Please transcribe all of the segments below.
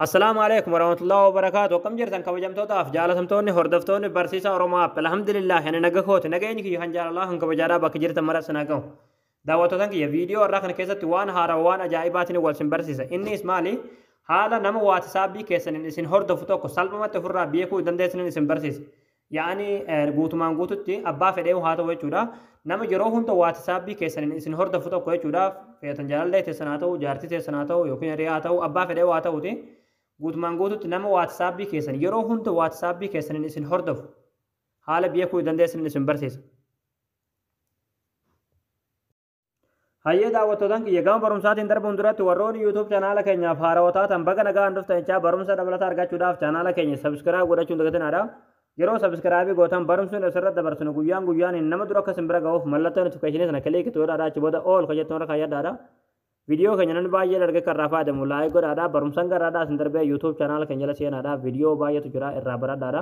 Assalaamu alaikum warahmatullahi wabarakaatu akkam jirtan kabajamtootaaf jaalatamtoonni hordoftoonni barsiisaa Oromoo App alhamdulillah ani naga kooti nageenyi kiyya kan jaalalaa kan kabajaadhaa bakka jirtan mara sinaa gahu daawwattootan kiyya viidiyoo irraa kana keessatti waan haaraa waan ajaa'ibaatiin wal sin barsiisa innis maali haala nama waatisaabbii keessaniin isin hordofu tokko salphumatti ofirraa beekuu dandeessaniin isin barsiisa Yaani guutumaan guututti abbaa fedheehu haa ta'u jechuudha. Nama yeroo hunda waatisaabbii keessaniin isin hordofu tokko jechuudha. Feetan jaalallee teessan haa ta'u, jaartii teessan haa ta'u yookiin hiriyaa haa ta'u, abbaa fedheehu haa ta'uti. Guutumaan guututti nama waatisaabbii keessan yeroo hunda waatisaabbii keessaniin isin hordofu haala beekuu dandeessaniin isin barsiisa. Hayyee daawwattootan kiyya gama barumsaatiin darbuun duratti warroonni YouTube chanaala keenyaaf haarawaa taatan baga nagaan dhuftan jechaa barumsa dabalataa argachuudhaaf chanaala keenya sabiskiraayib godhachuun dagatinaadha. Yeroo sabiskiraayibii gootan barumsi nuti asirratti dabarsinu guyyaan guyyaaniin nama dura akka simbira ga'uuf mallattoo notifikashinii sana kiliiki itti godhaadha achi booda ool kan jettu irra kaayyadhaadha. Viidiyoo keenya namni baay'ee dargee kan irraa fayyadamu laayik godhaadha. Barumsan garaadhaa isin darbee YouTube chanaala keenya jala seenaadha. Viidiyoo baay'eetu jira irraa baradhaadha.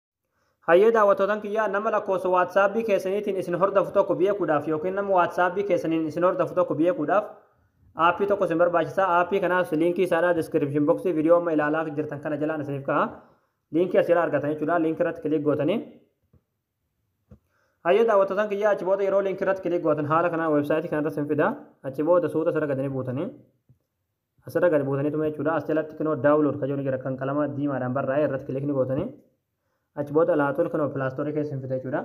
Hayyee daawwattootan kiyyaa nama lakkoofsa waatsaapbii keessaniitiin isin hordofu tokko beekuudhaaf yookiin nama waatsaapbii keessaniin isin hordofu tokko beekuudhaaf aappii tokko isin barbaachisa aappii kanaas liinkii isaadhaa diskiripshin boksii viidiyoo amma ilaalaa jirtan kana jalaan isiniif ka'a liinkii asirraa argatan jechuudha liinkii irratti kiliik gootanii hayyee daawwattootan kiyyaa achi booda yeroo liinkii irratti kiliik gootan haala kanaan weebsaayitii kanarra isin fida achi booda suuta sirra gadanii buutanii Asirra gad buutaniituma jechuudha. As jalatti kinoo download kan jedhu ni jira kan qalama diimaadhaan barraa'e irratti kilikni gootanii achi booda laatuun kinoo pilaastorii keessa hin fite jechuudha.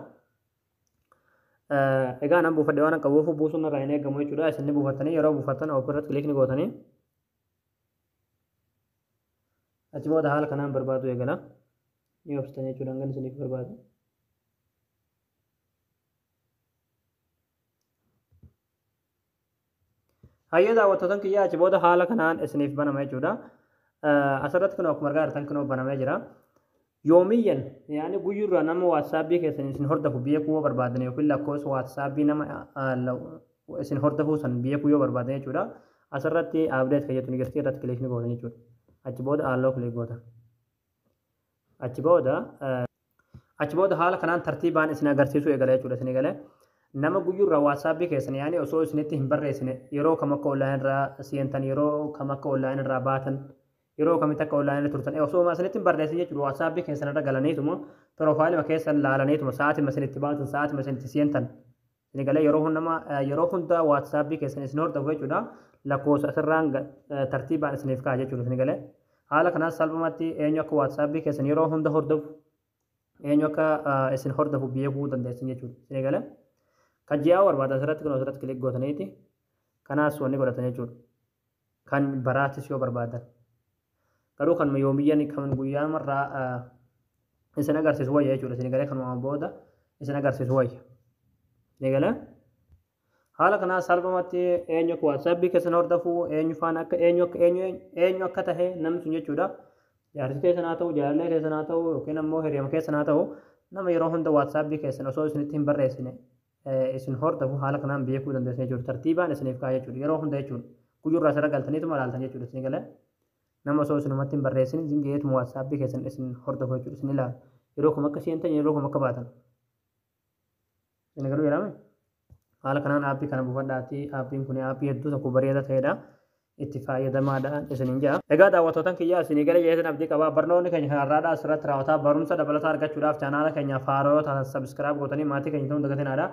Egaa nan buufadhe waan qabuuf buusuun irraa hin eegamu jechuudha. Isin ni buufattanii yeroo buufattan open irratti kilikni gootanii achi booda haala kanaan barbaadu eegala. Ni obsitan jechuudha hangan isiniif barbaadu. Hayyee daawwattootan kiyyaa achi booda haala kanaan isiniif banama jechuudha. Asirratti kunoo akkuma argaa jirtan kunoo banamee jira. Yoomiyyan yaani guyyurraa nama waatsaapii keessan isin hordofu beekuu yoo barbaadan yookiin lakkoofsa waatsaapii nama isin hordofuu san beekuu yoo barbaadan jechuudha. Asirratti abdeet kan jettu ni jirti irratti kilik ni gootan jechuudha. Achi booda aalloo kilik gootan. Achi booda achi booda haala kanaan tartiibaan isin agarsiisuu eegala jechuudha isin eegale. Nama guyyurraa waatsaapii keessan yaani osoo isinitti hin barreessine yeroo kam akka online irraa seentan yeroo kam akka online irraa baatan yeroo kamitti akka online irra turtan osoo ma isinitti hin barreessin jechuudha waatsaapii keessan irra galaniituma piroofaayilima keessan laalaniituma sa'aatima isin itti baatan sa'aatima isin itti seentan Isin galee yeroo hundama yeroo hunda WhatsApp keessan isin hordofu jechuudha. Lakkoofsa asirraan tartiibaan isiniif ka'a jechuudha isin galee. Haala kanaan salphumatti eenyu akka WhatsApp keessan yeroo hunda hordofu eenyu akka isin hordofu beekuu dandeessan jechuudha isin galee. Kan ji'aa barbaada asirratti kun asirratti kilik gootaniiti. Kanaas wanni godhatan jechuudha. Kan baraatis yoo barbaadan. Garuu kanuma yoomiyyan kan guyyaa marraa isin agarsiisu wayya jechuudha. Isin galee kanuma booda isin agarsiisu wayya. Ni galee? Haala kanaa salphumatti eenyu akka waatsaapii keessan hordofuu, eenyu faana akka eenyu akka eenyu eenyu akka tahe namni sun jechuudha. Jaarsi keessan haa ta'u, jaalallee keessan haa ta'u yookiin ammoo hiriyama keessan haa ta'u nama yeroo hunda waatsaapii keessan osoo isinitti hin barreessine isin hordofu haala kanaan beekuu dandeessu jechuudha. Tartiibaan isiniif kaa'a jechuudha. Yeroo hunda jechuudha. Guyyurraa sirra galtaniituma ilaaltan jechuudha. Isin galee nama osoo isinumatti hin barreessin isin ga'eetuma waatsaappii keessan isin hordofu jechuudha. Isin ilaala. Yeroo kam akka seentan yeroo kam akka baatan. Isin galuu jedhame. Haala kanaan aappii kana buufadhaati. Aappiin kun aappii hedduu tokko bareedaa ta'edha. itti faayadamaadhaan isiniin ja'a. Egaa daawwatootan kiyyaa isinii galee jeetan abdii qabaa barnoonni keenya kan har'aadhaa asirratti raawwataa barumsa dabalataa argachuudhaaf chaanaala keenyaaf haaroo yoo taatan subscribe gootanii maatii keenya ta'uun dagatinaadha.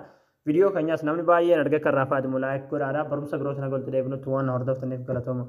Viidiyoo keenyaas namni baay'een argee akka irraa faayadamu like godhaadha. Barumsa birootiin haga walitti deebinutti waan na hordoftaniif galatooma.